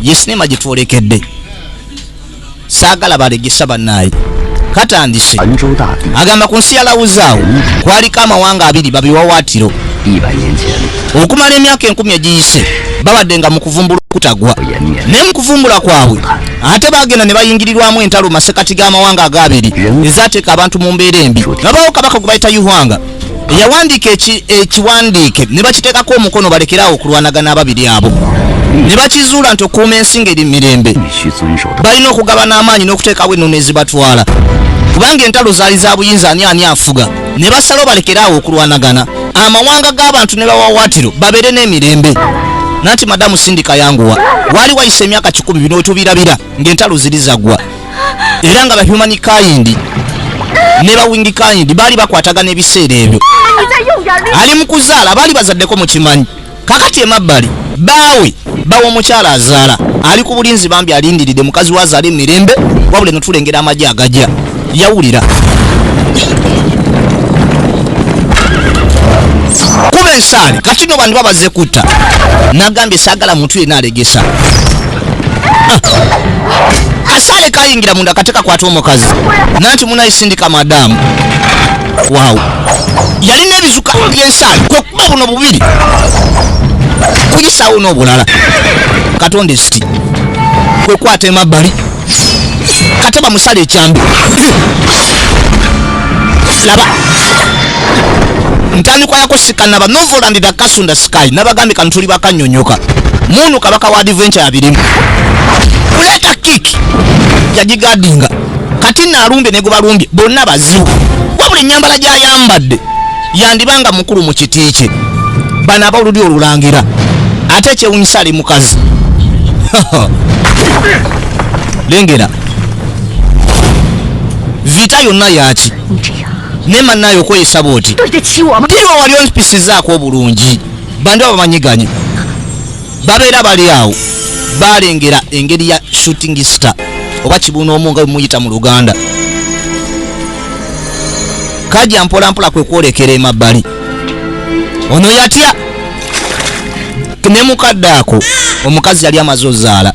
ye sinema gyetwolekedde saagala balegesa bannaayi katandise agamba ku nsi yalawuzaawo kwaliko amawanga abiri babiwawaatiro okumala emyaka enkumi egiyise babadde nga mu kuvumbula okutagwa naye mu kuvumbula kwabwe ate bagenda ne bayingirirwamu entalo masekati g'amawanga agaabiri ezateeka abantu mu mbeera embi nabawo kabaka gwe bayita yuhwanga yawandiika ekiwandiike ne bakiteekako omukono balekeraawo okulwanagana ababiri abo ne bakizuula nti okuuma ensi ngeri mirembe balina okugabana amaanyi n'okuteekawo ennono ezibatwala kubanga entalo zaali za buyinza ani ani afuga ne basalawo balekeraawo okulwanagana amawanga g'abantu ne bawawaatiro babeere n'emirembe nanti madamu sindika yanguwa waali wayisa emyaka kikumi bino wetubirabira ng'entalo ziri zaggwa era nga bahuman kayindi ne bawingi kayindi baali bakwatagana ebiseera ebyo ali mu kuzaala baali bazaddeko mukimanyi kakati emabbali baawe bawa omukyala azaala ali ku bulinzi bambi alindiridde mukazi we azaala emirembe wabula eno tulengera amagye agajya yawulira kuba ensaale kati no bantu babaze kutta nagambye saagala muntu yena alegesa kasale kayingira munda kate kakwata omukazi nanti munayisindika madamu waw yalina ebizuka byensaali kwekuba buno bubiri kuyisawo n'obulala katonda esiti kwekwata emabbali kate bamusala ekyambi laba ntandikwa yakusika naba novoland da kasunda sky nabagambye kano tuli bakanyonyoka munu kabaka wa adventure yabirimu kuleta kik yagigadinga kati nalumbye negubalumbye bonna bazibu wabula enyambala gyayambadde yandibanga mukulu mu kiti kye bano abaoludi olulangira ate ekyewunyisa ali mukazi lengera vita yonna yaki naye mannayo okweyisa bwoti tiriwa wali onpisizaako obulungi bandi aba bamanyiganye babeera bali awo balengera engeri ya shooting star oba kibuuna omu nga bemuyita mu luganda kaja mpolampola kwe kwolekera emabbali ono yatya ne mukadde ako omukazi yali amaze ozaala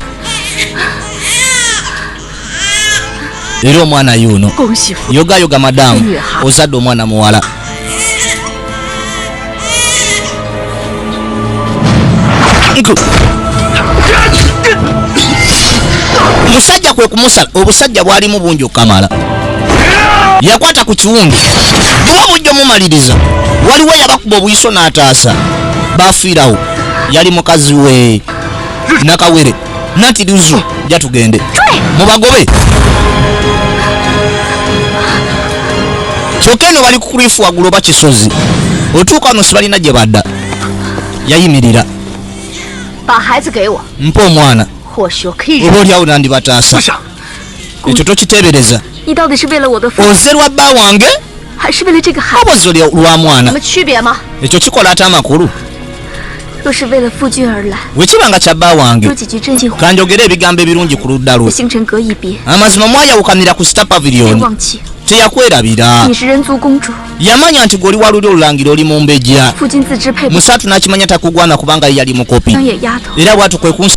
era omwana yuuno yogayoga madamu ozadde omwana muwala musajja kwe kumusala obusajja bwalimu bungi okukamala yakwata ku kiwundu buba bujja omumaliriza waliwo yabakuba obuyiso n'ataasa bafiirawo yali mukazi we nakawere nati luzu ja tugende mubagobe kyokka eno bali kukurifu waggulu oba kisozi otuuka wano sibalina gye badda yayimirira mpa omwana oba olyawo nandibataasa ekyo tokiteebereza oze lwa bba wange oba oze lwa mwana ekyo kikola ate amakulu wekiba nga kya bba wange kanjogere ebigambo ebirungi ku ludda lwe amazima mwayawukanira ku sitapaviriyoni teyakwerabira yamanya nti gweoli waluli olulangira oli mu mbejja musatu nakimanya takugwana kubanga yeyali mukopi era bwatu kwekunsa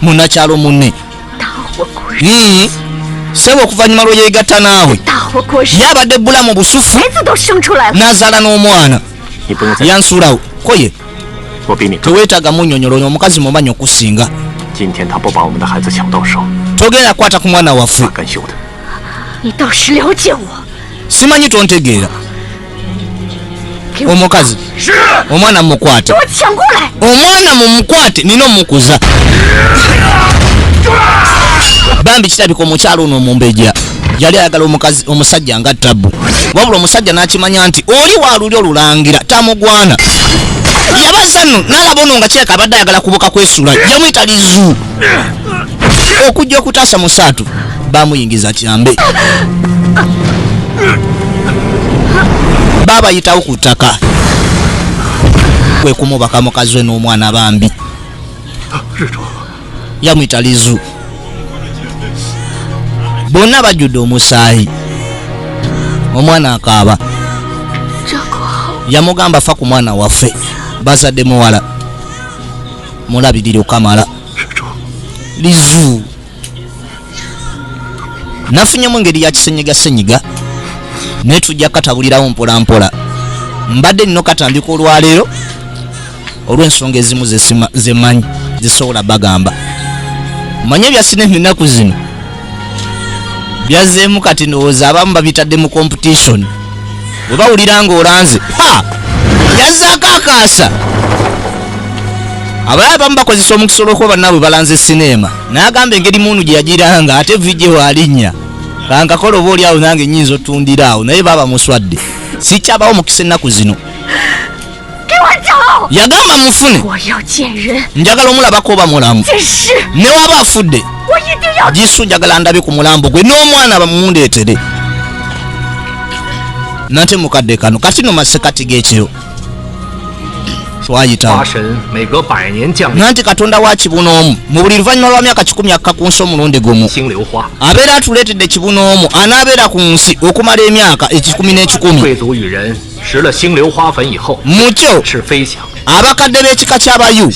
munakyalo munne sebo okuvanyuma lweyegatta naawe yabadde bulamu busufu nazaala n'omwana yansuulawo koye tewetaga munyonyola oyo omukazi mumanyi okusinga togenda kwata ku mwana waffe simanyi tontegeera omukazi omwana mumukwate omwana mumukwate nina omukuza bambi kirabika omukyalo ono omumbeja yali ayagala omukazi omusajja nga tabu wabula omusajja nakimanya nti oli waluli olulangira tamugwana yabaza no nalaba ono nga kireka abadde ayagala kubuka kwesula yamuyita lizu okujja okutaasa musaatu bamuyingiza kyambe babayitawo ku ttaka kwekumubaka mukazi we n'omwana bambi yamuyita lizu bonna bajjudde omusaayi omwana akaaba yamugamba fa ku mwana waffe bazadde muwala mulabirira okamala lizu nafunyemu engeri ya kisenyiga senyiga naye tujja katabulirawo mpolampola mbadde nino katandika olwaleero olw'ensonga ezimu zemanyi zisobola bagamba manye byasina enaku zino byazzeemu kati ndowooza abamu babitadde mu competition bwe bawulira nga olanze ha yazzaako akaasa abalala bamu bakozesa omukisa olwokuba bannaabwe balanze sineema n'agamba engeri muunu gye yagiranga ate vijje waalinnya kankakola oba oli awo nange nyinza otundira awo naye baba muswadde sikyabawo mukisa ennaku zino yagamba mufune njagala omulabako oba mulamu newaba afudde jisu njagala ndabe ku mulambo gwe n'omwana bamundeetere nate mukadde kano kati no masekati g'ekiro twayitawo nanti katonda wa kibuna omu mu buli luvannyuma lwa myaka kikumi akka ku nsi omulundi gumu abeera atuleetedde kibuna omu anaabeera ku nsi okumala emyaka ekikumi n'ekikumi mukyo abakadde b'ekika ky'abayu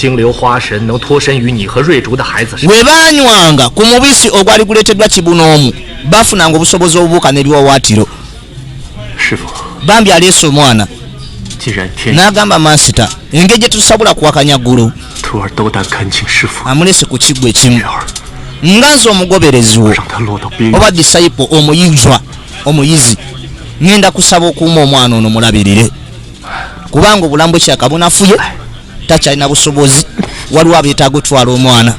we baanywanga ku mubisi ogwali guleeteddwa kibunoomu baafunanga obusobozi obubuuka n'ebiwawaatiro bambi aleese omwana n'agamba mansita engeri gye tusobola kuwakanya ggulu amuleese ku kiggwa ekimu nga nze omugobereziwo oba disayipo omuyizwa omuyizi ngenda kusaba okuuma omwana ono mulabirire kubanga obulamu bwe kyakabunafuye takyalina busobozi waliwo abeetaaga otwala omwana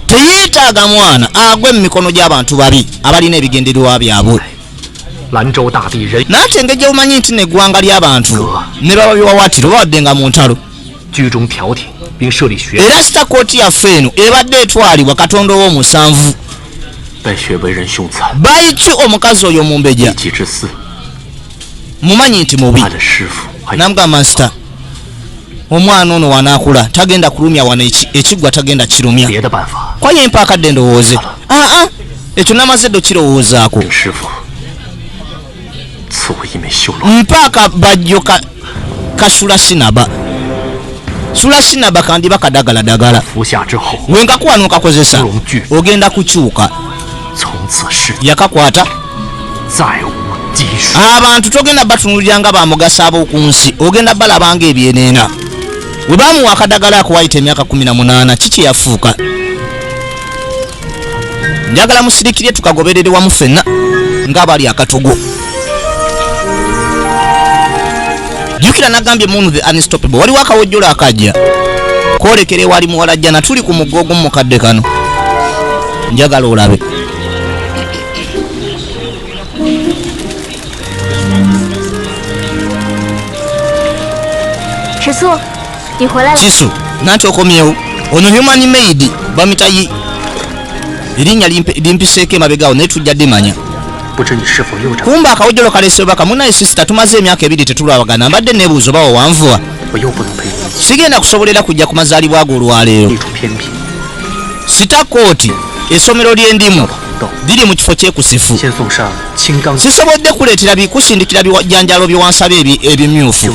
teyeetaaga mwana agwe mu mikono gy'abantu babi abalina ebigendererwa byabwe naye ate engeri gyeumanyi nti neggwanga ly'abantu ne baba biwawaatiro babadde nga mu ntalo era sita kooti yaffe eno ebadde etwalibwa katonda ow'omusanvu baiki omukazi oyo omumbeja mumanyi nti mubi namga masita omwana ono wanakula tagenda kulumya wano ekigwa tagenda kirumya kwayo empaakadde ndowooze aa ah, ah, ekyo namaze ddo kirowoozaako mpaka bajjo ka, kasula sinaba sula sinaba kandiba kadagala dagala wenkakuwa nokakozesa ogenda kukyuka yakakwata abantu togenda batunulira nga bamugasa ab'oku nsi ogenda balabanga ebyeneena we bamuwa akadagala akuwayita emyaka 18 kiki yafuuka njagala musirikire tukagoberere wamu fenna ng'abali akatogo jukira nagambye munu the unstoppable waliwo akawojjolo akajja kwolekera ewali muwala jjana tuli ku mugga ogumu mukadde kano njagala olabe kisu nanti okomyewo ono human maid bamita yi erinnya limpiseeko emabegawo naye tujja dimanya kumba akawojolo kalesebaka munaye sisita tumaze emyaka ebiri tetulwabagana mbadde nebuuzo bawo wanvuwa sigenda kusobolera kujja ku mazaalibwa ago olwaleero sita kooti esomero lyendimu biri mu kifo kyekusifu sisobodde kuleetera bikusindikira bijanjalo byewansaba ebimyufu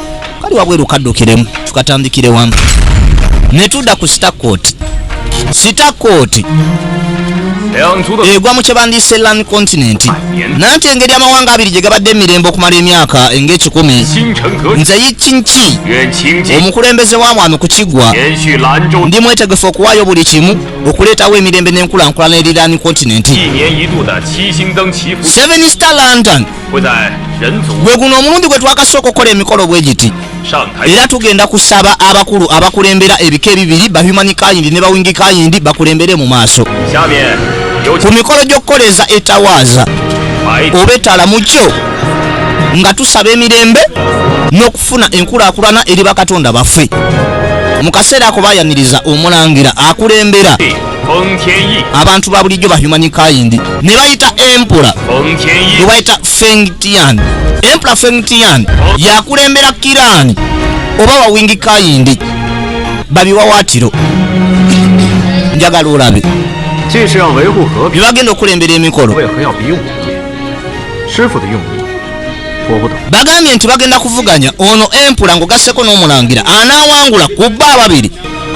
kali wabweru kaddukiremu tukatandikire wamu ne tudda ku sitakooti sitakooti egwa mu kyebandiyise lan continent nanti engeri amawanga abiri gye gabadde emirembe okumala emyaka ng'ekikumi nze yikinki omukulembeze wa mwami ku kiggwa ndi mwetegefu okuwaayo buli kimu okuleetawo emirembe n'enkulankulana eri lan continent seven star london gwe guno omulundi gwe twakasooka okukola emikolo bwe giti era tugenda kusaba abakulu abakulembera ebika ebibiri bahumani kayindi ne bawingi kayindi bakulembere mu maaso ku mikolo gy'okukoleza etawaaza oba etala mu kyo nga tusaba emirembe n'okufuna enkulaakulana eri bakatonda baffe mu kaseera ako bayaniriza omulangira akulembera abantu ba bulijjo ba human kind ne bayita empula ne bayita fengtian empula fengtian yakulembera kirani oba wawingi kayindi babiwawatiro njagala olabe bibagenda okulembera emikolo bagambye nti bagenda kuvuganya ono empula ngaogasseko n'omulangira anaawangula ku bba ababiri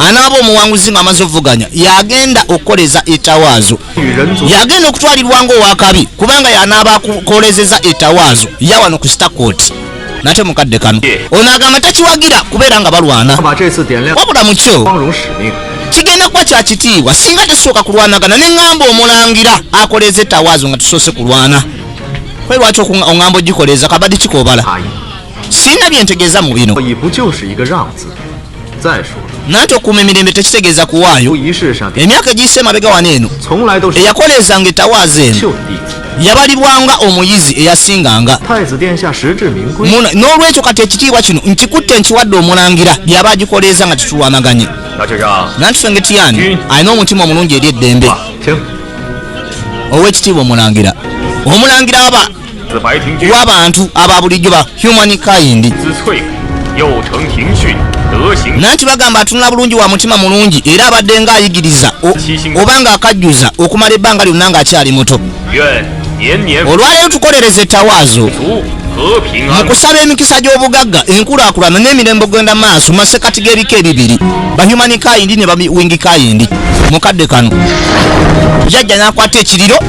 anaaba omuwanguzi nga amaze okuvuganya yagenda okukoleza etawaazo yagenda okutwalirwa nga owakabi kubanga yanaaba akolezeza etawaazo yawano ku stakoti nate mukadde kano ono agamba takiwagira kubeera nga balwana wabula mukyo kigenda kuba kya kitiibwa singa tesooka kulwanagana ne ŋŋamba omulangira akoleeza etawaazo nga tusoose kulwana kwe lwaki oŋŋamba ogikoleeza kabadi kikobala sirina byentegeeza mu bino nanti okuuma emirembe tekitegeeza kuwaayo emyaka egiyise emabega wano eno eyakoleezanga etawaaza eno yabalibwanga omuyizi eyasinganga n'olwekyo kati ekitiibwa kino nkikutte nkiwadde omulangira yaba agikoleeza nga titulwanaganye nanti fengetiyani alina omutima omulungi eri eddembe owekitiibwa omulangira omulangira aba w'abantu aba bulijjo ba human kind nanti bagamba atunula bulungi wa mutima mulungi era abadde nga ayigiriza oba nga akajjuza okumala ebbanga lyonna nga akyali muto olwaleero tukolereza ettawaazo mu kusaba emikisa gy'obugagga enkulaakulana n'emirembe ogenda maaso masekati g'ebika ebibiri bahumani kayindi ne bawingi kayindi mu kadde kano jajja n'akwata ekiriro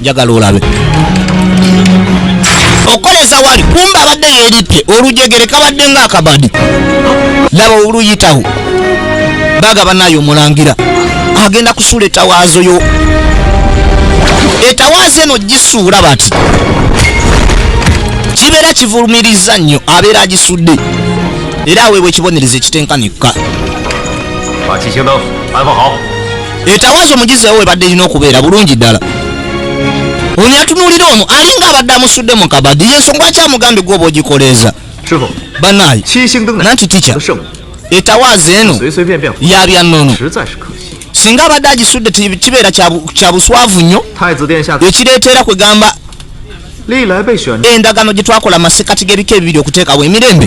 njagala olabe okoleza wali kumba abadde yeritte olujegere kabadde nga akabadi laba oluyitawo baga banayo omulangira agenda kusula etawaazo yo etawaazo eno gisuula bati kibeera kivulumiriza nnyo abeera agisudde era aweebwa ekibonerezo ekitenkanikka etawaaza omugizi ewo ebadde erina okubeera bulungi ddala ono yatunuulira ono alinga abadde amusudde mu kabadi yensonga ki amugambye gwoba ogikoleeza banaye nanti tica etawaaza eno yabya nnono singa abadde agisudde kibeera kya buswavu nnyo ekireetera kwegamba endagaano gye twakola masekati g'ebika ebibiri okuteekawo emirembe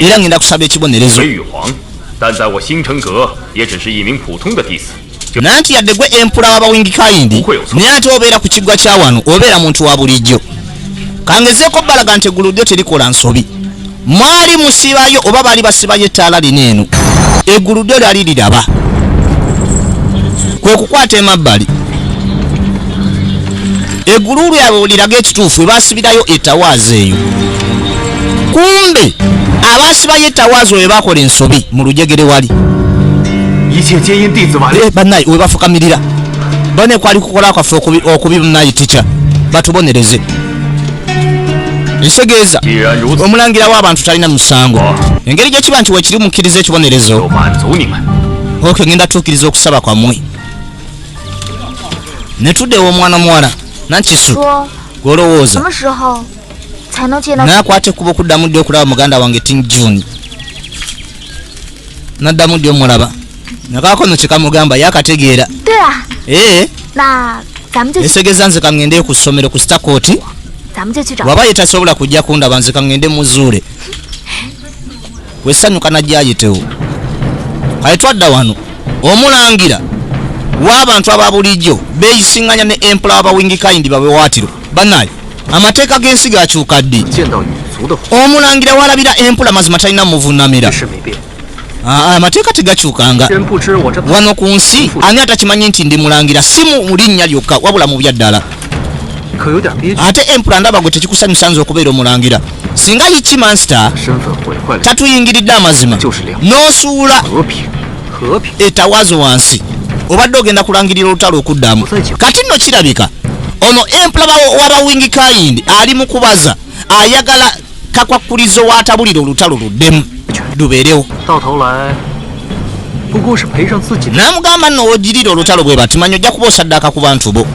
era ngenda kusaba ekibonerezo nanti yadde gwe empula wabawingikaindi naye ate obeera ku kiggwa kya wano obeera muntu wa bulijjo kangezeeko balaga nti eggulu lyo terikola nsobi mwali musibayo oba baali basibayo ettaala lino eno eggulu lyo lyali liraba kwe kukwata emabbali eguluulu yabwe liraga ekituufu ebasibirayo etawaazi eyo kumbe abasibayo etawaazi oyo bakola ensobi mu lujegere wali eh, banaye webafukamirira bane kwali kukola kwaffe okubi banaye tica batubonereze nsegeeza omulangira w'abantu talina musango oh. engeri gyekiba nti wekiri mukkiriza ekibonerezo ok ngenda tuukiriza okusaba kwamwe ne tuddewo omwana muwala nakisu gwolowooza nakwata ekkuba okuddamu ddi okulaba muganda wange tin june naddamu ddi omulaba nakaako no kyekamugamba yakategeera ee eh. esegeza nze kaŋŋende ku ssomero ku sitakooti waba yetasobola kujja kundaba nze kaŋŋende muzuule wesanyuka najayitewo kale twadda wano omulangira w'abantu aba bulijjo beeyisinganya ne empula abawingikayindi babewaatiro banaye amateeka g'ensi gakyuka ddi omulangira walabira empula mazima talina muvunamira ah, ah, amateeka tegakyukanga wano ku nsi ani atakimanyi nti ndi mulangira si mu linnya lyokka wabula mu byaddala ate empula ndaba gwe tekikusanyusanza okubeera omulangira singa yichi master tatuyingiridde amazima n'osuula etawazo wansi obadde ogenda kulangirira olutalo okuddamu kati nno kirabika ono empula wabawingi kayindi ali mu kubaza ayagala kakwakulizo watabulira olutalo luddemu lubeerewo namugamba nno wogirira olutalo bwe batimanyi ojja kuba osaddaaka ku bantu bo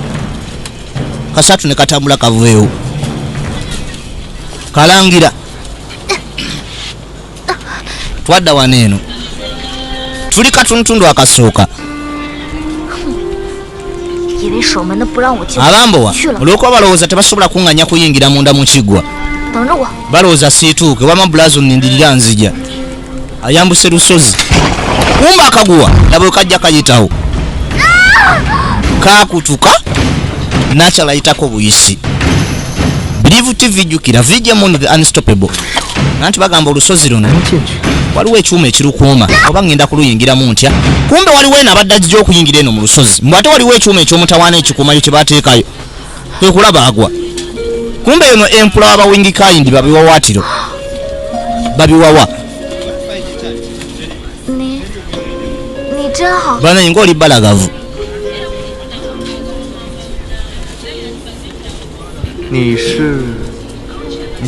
kasatu ne katambula kaveewo kalangira twadda wano eno tuli katuntundu akasooka abambowa olwokuba balowooza tebasobola kuŋŋanya kuyingira munda mu kiggwa balowooza siituuke wama bulazo nindirira nzija ayambuse lusozi kumba akaguwa nabwe kajja kayitawo kakutuka nakyalayitako buyisi bilivu tv jukira vijemon the unstoppable nanti bagamba olusozi luno waliwo ekyuma ekirukuuma oba ngenda kuluyingiramu ntya kumbe waliwo eno abadde ajija okuyingira eno mu lusozi mbw ate waliwo ekyuma ekyomutawaana ekikuumayo kyebateekayo kwekulaba agwa kumbe eno empula wabawingikaindi babiwawatiro babiwawa banaye ngaoli balagavu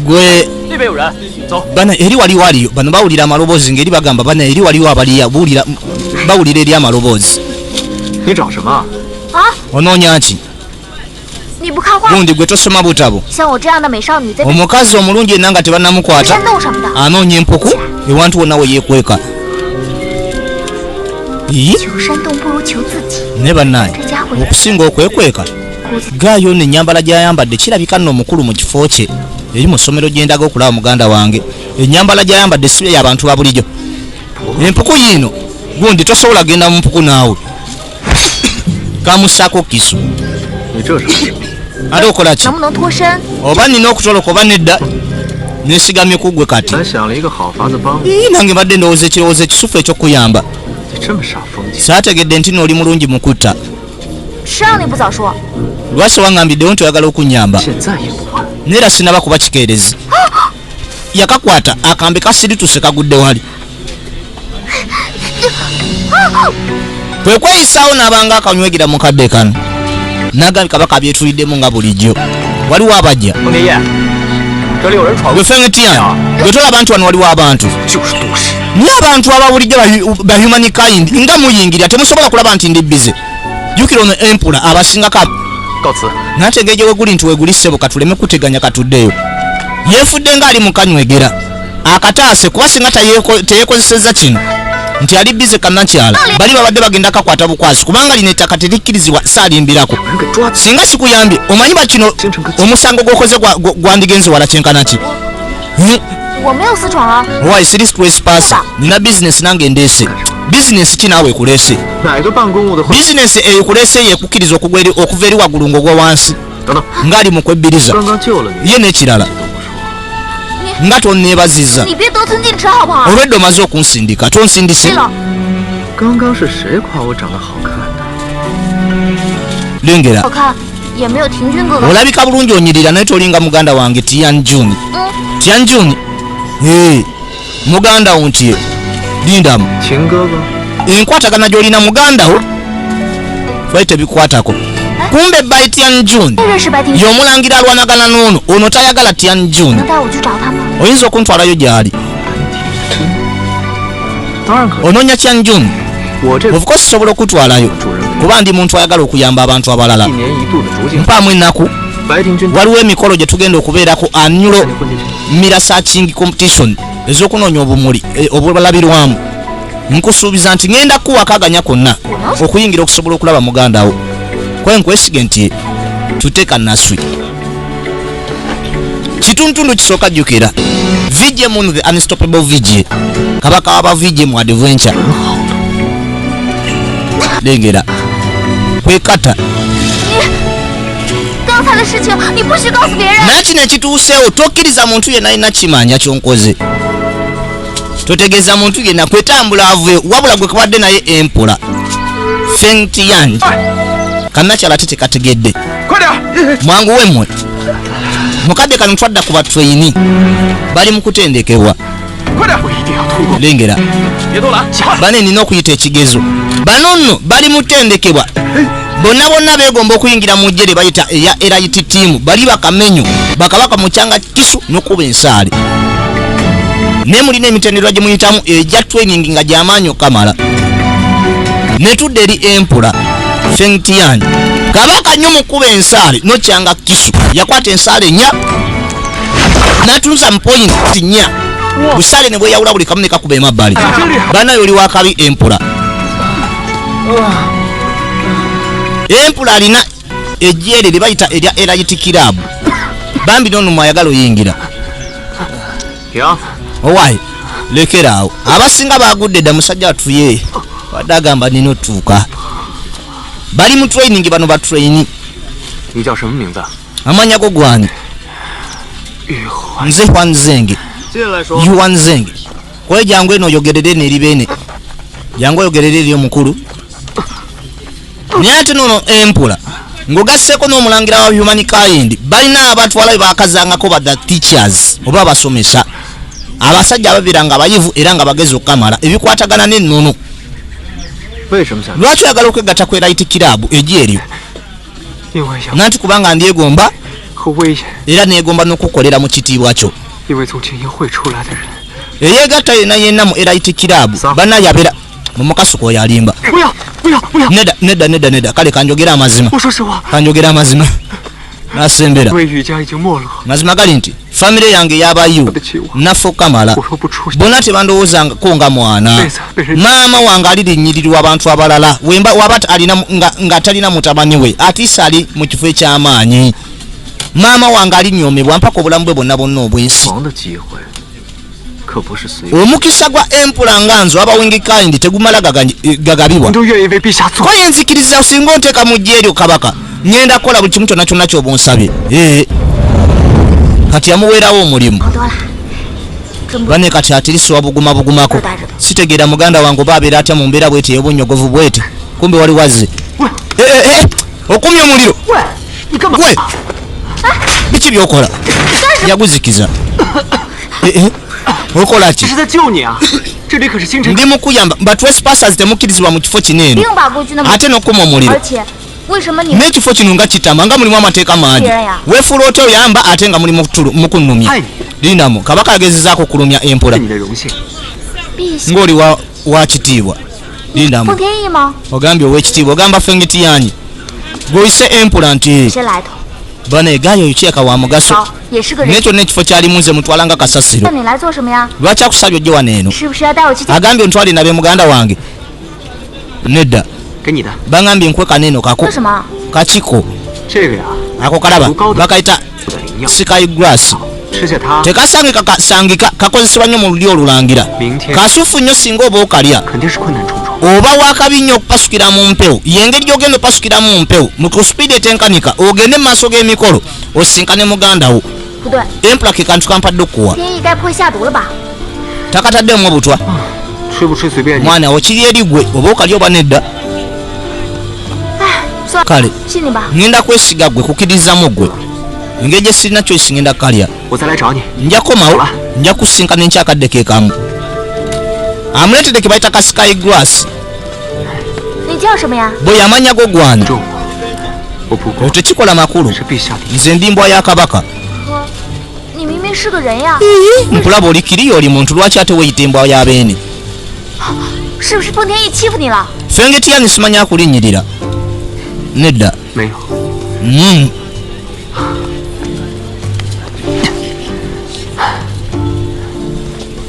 gwe bana eri waliwo aliyo bano bawulira amaloboozi ngaeri bagamba bana eri waliwo abaliya bawulira eri amaloboozi onoonya ki gundi gwe tosoma butabo omukazi omulungi enna nga tebanamukwata anoonya empuku ewantu wonna we yekweka naye bannange okusinga okwekweka gaayo no ennyambala gyayambadde kirabika nno omukulu mu kifo kye eri mu ssomero gye ndaga okulaba muganda wange ennyambala gyayambadde si yabantu ba bulijo empuku yiino gundi tosobola genda mu mpuku naawe kamusako kisu ate okola ki oba nina okutoloka oba nedda nesigamye kugwe kati nange badde ndowooza ekirowoozo ekisufu ekyokuyamba saategedde nti nooli mulungi mukutta lwaki wangambiddewo nti oyagala okunyamba naye era sinaba kuba kikeerezi yakakwata akambe kasirituse kagudde wali kwe kweyisaawo n'abanga akanywegera mu kadde kano nagambye kabaka byetuliddemu nga bulijjo waliwo abajja gwefengetian gwetolaba nti wano waliwo abantu naye abantu ababulijjo bahuman kind nga muyingira temusobola kulaba nti ndi bize jukira ono empula abasinga ka nategeeje weguli nti weguli ssebo katuleme kuteganya katuddeyo yefudde nga ali mukanywegera akataase kuba singa teyekozeseza kino nti ali bize kanakyala bali babadde bagenda kakwata bukwasi kubanga lino ettaka terikkirizibwa saalimbirako singa sikuyambye omanyi bakino omusango gwokoze gwandigenze wala kyenkanaki Why is this place pass? Nina business nange ndese. Business ki nawe kulese? Business eyo kulese ye kukiriza okugweri okuveri wagulu ngogwa wansi. Ngali mu kwebbiriza. Ye ne kirala. Nga to nebaziza. Olweddo maze okunsindika. To nsindise. Ganga shi shi kwa wo zhang le hao kan. Lengera. olabika bulungi onyirira naye tolinga muganda wange tian jun mm. tian jun muganda wo nti lindamu enkwatagana gyolina muganda wo bali tebikwatako kumbe by tian jun yomulangira alwanagana noono ono tayagala tian jun oyinza okuntwalayo gyali ononya tian jun Of course sobola okutwalayo kuba ndi muntu ayagala okuyamba abantu abalala mpaamu ennaku waliwo emikolo gye tugenda okubeerako anulo mira searching competition ez'okunoonya obumuli e, obulabirwamu nkusuubiza nti ŋenda kuwakaganya konna okuyingira okusobola okulaba mugandawo kwenkwesige nti tuteeka naswi kituntundu kisooka jjukira vj mun the unstoppable vj kabaka waba vj mu adventure lengera kwekata naye kino ekituuseewo tokkiriza muntu yenna alina kimanja kyonkoze totegeeza muntu yenna kwetambula aveyo wabula gwe kabadde naye empola fengtiyan kannakyala te tekategedde mwangu wemwe mukadde kano twadda ku batweyini bali mu kutendekebwa lengera bane nina okuyita ekigezo bano nno bali mu tendekebwa bonna bonna begomba okuyingira mu jere bayita eya erit tiamu bali bakamenyo bakabaka mukyanga kisu nokuba ensaale naye mulina emitendera gye muyitamu egya training nga gyamaanyi okukamala netudde eri empula feng tian kabaka nyo mukuba ensaale nokyanga kisu yakwata ensaale nya natunza mupoint nya busale ne bweyawula buli kamu nekakuba emabbali banaye oli wakabi empula empula alina ejyere lyebayita erya elayiti kirabu bambi nonumu ayagala oyingira owaye lekera awo abasinga bagudde dda musajja atuye wadde agamba nina otuuka bali mu training bano ba traini amanya go gwani nze hwanzenge yuwanzenge kwejangu eno oyogerere neri bene jangu oyogerere eri omukulu naye ate nono empula ngogasseko n'omulangira wa human kind balina abatwala bebakazangako ba the teachers oba abasomesa abasajja ababeera nga bayivu era nga bagezi okukamala ebikwatagana n'ennono lwaki oyagala okwegatta ku erit kirabu egi eryo nanti kubanga ndyegomba era negomba n'okukolera mu kitiibwa kyo eyegatta yena yena mu erit kirabu banaye abeera mumukasuka oyo alimba neda neda neda neda kale kanjogera amazima kanjogera amazima nasembera mazima gali nti famire yange yabayo naffe okukamala bona tebandowoozangako nga mwana maama wange ali linyirirwa abantu abalala wemba waba nga talina mutabani we atiisa ali mu kifo eky'amaanyi maama wange alinyomebwa mpaka obulamu bwe bonna bonna obwensi omukisa gwa empula nga nze waba wingi kind tegumala eh, gagabibwa koye nzikiriza osinga onteeka mu jja eryo kabaka ŋenda kukola buli kimu kyonna kyonna kyoba onsabye eh. kati yamuweerawo omulimu bane kati atirisiwa buguma bugumako sitegeera muganda wange oba abeera atya mu mbeera bwete eyobunyogovu bwete kumbe wali wazze eh, okumya omuliro gwe biki byokola yaguzikiza eh, eh. okola ki ndi mukuyamba but wespasas temukkirizibwa mu kifo kino eno ate nokukuma omuliro n'ekifo kino nga kitama nga mulimu amateeka mangi wefuula otya oyamba ate nga mulimu mukunumya linamu kabaka agezezaako okulumya empola ng'oliwa wakitiibwa lindamu ogambye owekitiibwa ogamba fengiti yanyi gweoyise empula nti bana egayo oyo kireka wa mugaso naye kyonna ekifo kyalimu nze mutwala nga kasasiro lwaki akusabye ojje wano eno agambye ontwale nabe muganda wange nedda bangambye nkwekana eno kako kakiko ako kalaba bakayita sikayi grass tekasangika kasangika kakozesebwa nnyo mu lulyo olulangira kasuffu nnyo singa oba okalya oba wakabi nnyo okupasukira mu mpewo yengeri gyogenda opasukira mu mpewo muku supiidi etenkanika ogende mu maaso g'emikolo osisinkane muganda wo empula ke kantu kampadde okukuwa takataddemu obutwa ah, mwana wo kiri erigwe oba okalya oba nedda ah, kale ngenda kwesiga gwe kukirizamu gwe engeri gye sirina choice ngenda kalya nja komawo nja kusinkana enkyakadde kekamu amuleetedde ke bayita ka sky grass bwe yamanya go gwani otekikola makulu nze ndi mbwa ya kabaka nkulaba oli kiriya oli muntu lwaki ate weyita embwa ya beene fengetiyange simanya akulinnyirira nedda hmm.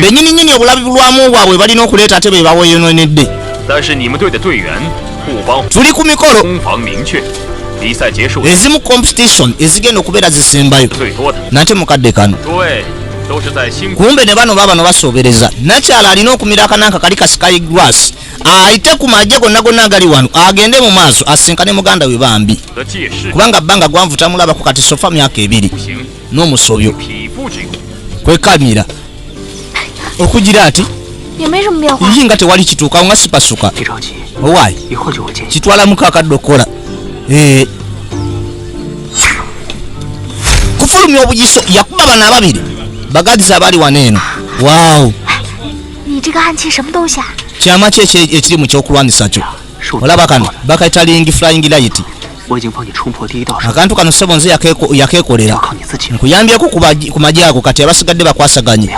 benyini nyini obulabi bulwamu bwabwe balina okuleeta ate be baweyononedde tuli ku mikolo ezimu competition ezigenda okubeera zisembayo nate mukadde kano kumbe ne bano babano basobereza nakyala alina okumira akananka kali kasikayi gras ayite ku maje gonna gonna agali wano agende mu maaso asinkane muganda we bambi kubanga bbanga gwanvutamulabako kati sofa myaka ebiri n'omusobyo kwekamira okugira ati iyi nga tewali kituukawo nga sipasuka owaayi kitwala muka akadde okukola eh. kufulumya obugiso yakuba bana ababiri bagadiza abali wano eno waw kyama ki ekiri mu kyokulwanyisa kyo olaba kano bakayita lingi flying light akantu kano ssebo nze yakekolera nkuyambyeko ku maji ago kati abasigadde bakwasaganye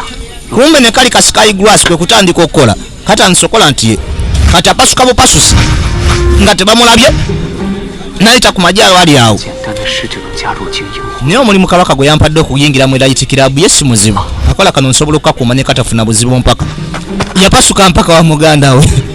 kumbe ne kali kasikayi gras kwe kutandika okukola kati ansokola nti kati apasuka bupasusi nga tebamulabye nayita ku maji ago ali awo naye omulimu kabaka gwe yampadde okuyingira mu erayiti kirabu ye si muzibu akola kano nsobola okukakuuma ne katafuna buzibu mpaka yapasuka mpaka wa muganda we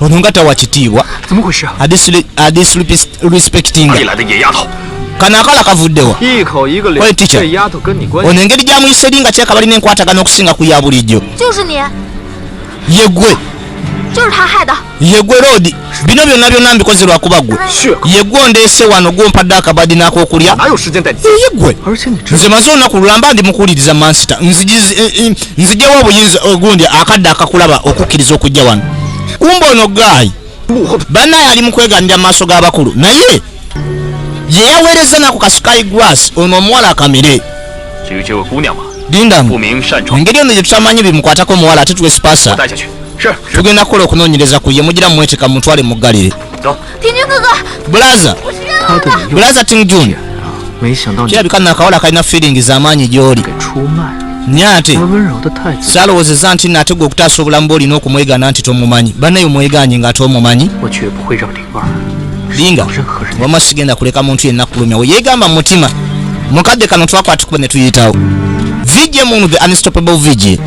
ono nga tawa kitiibwa adisrespectinga kano akala kavuddewa oyo ticha ono engeri gyamuyiseri nga kyekabali nenkwatagana okusinga ku ya bulijjo yegwe yegwe roodi bino byonna byonna mbikoze lwakuba gwe yegwe ondeese wano gwompadde akabadi n'akokulya yegwe nze maze olunaku lulamba ndi mukuwuliriza mansita nzijewo obuyinza ogundi akadde akakulaba okukkiriza okujja wano kumba ono gaayi banaye ali mu kweganira mu maaso g'abakulu naye ye yaweereza naku kasukayi gras ono omuwala akamire lindamu engeri ono gyetutamanyi bimukwatako omuwala ate twesipasa tugenda kukola okunoonyereza ku ye mugira mumweteka mumutwale muggalire bulaza bulaza ting jun kirabika nno akawala akalina feeling z'amaanyi gy'oli naye ate salowoozeza nti nate gwe okutaasa obulamu bwe olina okumwegana nti tomumanyi banaye omwegaanye ng'ate omumanyi linga wama sigenda kuleka muntu yenna kulumya we yeegamba mu mutima mukadde kano twakwatikuba ne tuyitawo vijje munu the unstoppable vijje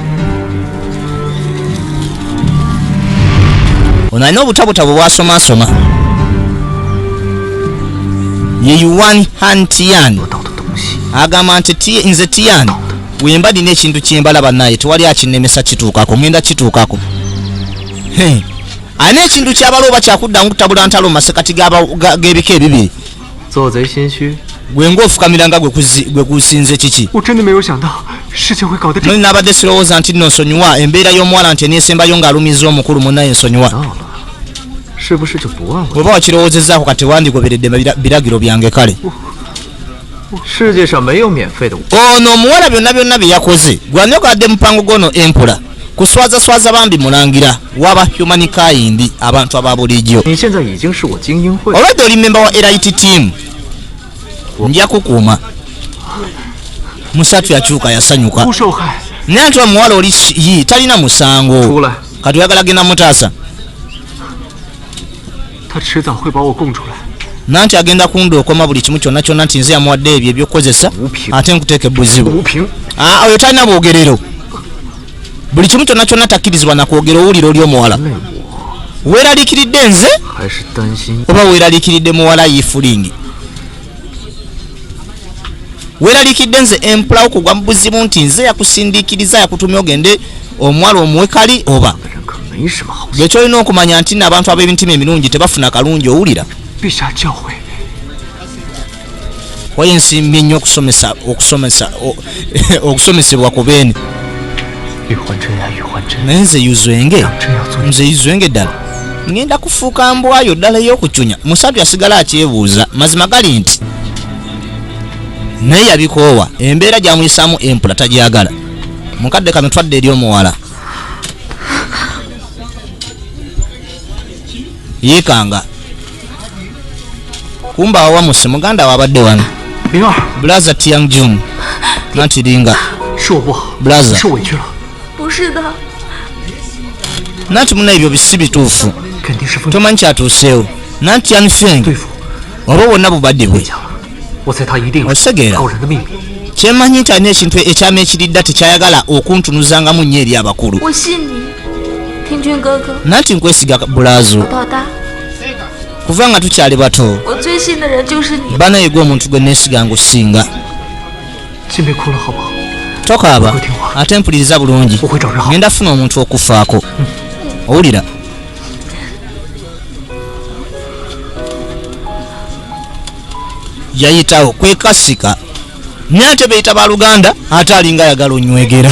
ono alina obutabutabo bwasomasoma ye yuan han tian agamba nti nze tian wemba nina ekintu kyembala banaye tewali akinemesa kituukako ngenda kituukako alina ekintu kyabala oba kyakudda nkutabula ntalo masekati g'ebika ebibiri 做贼心虚。gwe ng'ofukamira nga gwe kusinze kiki muli nabadde sirowooza nti nno nsonyiwa embeera y'omuwala nti eneesembayo ng'alumiza omukulu munaye nsonyiwa oba wakirowoozezaako kati wandigoberedde biragiro byange kale ono omuwala byonna byonna bye yakoze gwanyogadde mupango gwono empula kuswaza swaza bambi mulangira waba human kind abantu aba bulijjo olwedde oli memba wa rit team nja kukuuma musatu yakyuka yasanyuka naye nti omuwala oli yi talina musango kati oyagala genda mutaasa nanti agenda kunda okoma buli kimu kyonna kyonna nti nze yamuwadde ebyo ebyokukozesa ate nkuteeka ebuzibu ah, oyo talina bwogerero buli kimu kyonna kyonna takkirizibwa nakwogera owulira oli omuwala weeraliikiridde nze oba weeraliikiridde muwala yifulingi weralikidde nze empulawo kugwa mubuzibu nti nze yakusindikiriza yakutumya ogende omwalo omuwe kali oba gyekyolina okumanya nti nabantu ab'emitima emirungi tebafuna kalungi owulira waye nsimbye nnyo okusomesa okusomesa okusomesebwa ku beene naye nze yuzwenge nze yuzwenge ddala ngenda kufuuka mbwayo ddala ey'okucunya musatu yasigala akyebuuza mazima gali nti naye yabikoowa embeera gyamuyisaamu empula tagyagala mukadde kano twadde eri omuwala yeekanga kumba awamusi muganda wabadde wano blaza tiang jun natiringa blaza nati muna ebyo bisi bituufu tomanyi kyatuuseewo nanti anfeng oba wonna bubadde bwe osegeera kyemanyi nti alina ekintu ekyama ekiridda tekyayagala okuntunuzangamu nnyo eri abakulu nanti nkwesiga bulazo kuva nga tukyali bato banaye gwe omuntu gwe nesiga nga osinga tokaaba ate mpuliriza bulungi ngenda funa omuntu okufaako hmm. owulira yayitawo kwekasika naye ate beyita baluganda ate alinga ayagala onywegera